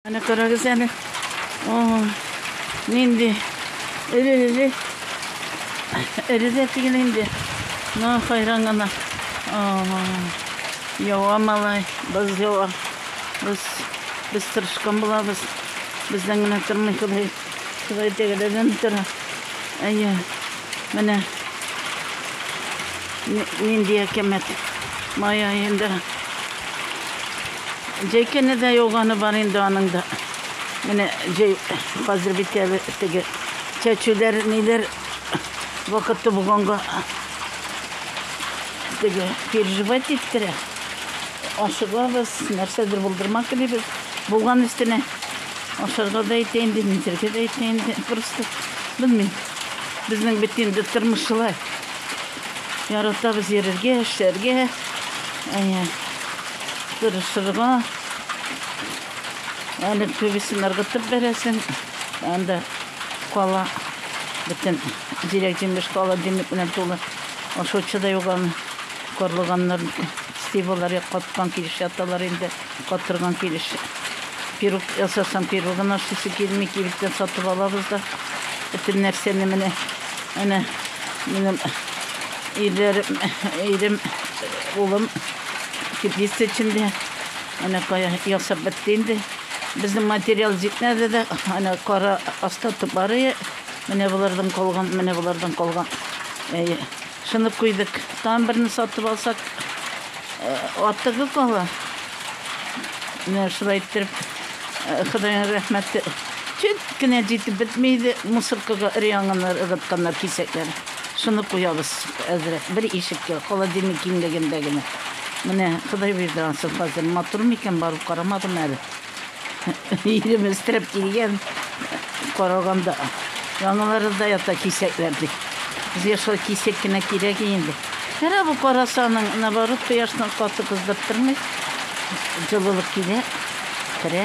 Әнә карагыз әле. О, нинди эре-эре. Эре дә түгел инде. Ну, хайран гына. Ява малай, боз ява. Без без тырышкан булабыз. Бездән генә тормый Ходай. Ходай тәгәләдән тора. Әйе. Менә нинди әкәмәт. Май аенда Җәйкәне дә яуганы бар инде аның да. Менә җәй хәзер бит әле теге чәчүләр, ниләр вакыты булганга теге переживать иттерә. Ашыгабыз, нәрсәдер булдырма телибез. Булган өстенә ашарга да итә инде, низәргә дә итә инде. Просто белмим. Безнең бит инде тормыш шулай. Яратабыз йөрергә, эшләргә, әйе, тырышырга. Әле күбесен ыргытып бәрәсен. Анда кала бөтен дирәк җимеш кала димек белән тулы. Ашаучы да юк аны. Карлыганнар сти булар, каткан килеш яталар инде. Катырган килеш пирог ясасам, пирогын ашыйсы килми, кибеттән сатып алабыз да. Бөтен нәрсәне менә әнә минем ирләрем, ирем, улым теплица эчендә. Әнә кая ясап бетте инде. Безнең материал җитмәде дә, әнә кара остаток бар иде. Менә болардан калган, менә болардан калган. Әйе. Шуны куйдык. Тагын берне сатып алсак, артыгы кала. Менә шулай иттереп, Худайга рәхмәт. Чөт кенә җитеп бетми иде, мусоркага өр-яңаннар ыргытканнар кисәкләр. Шуны куябыз әзрәк, бер ишеккә, холодильник киңлегендә генә. Менә Ходай бирде ансын хәзер. Матур микән, барып карамадым әле. Ирем өстерәп килгән караганда яңалары да ята кисәкләр дип. Безгә шул кисәк кенә кирәк инде. Кара бу карасаның, наоборот, кояшның каты кыздырып тормый. Җылылык килә, керә.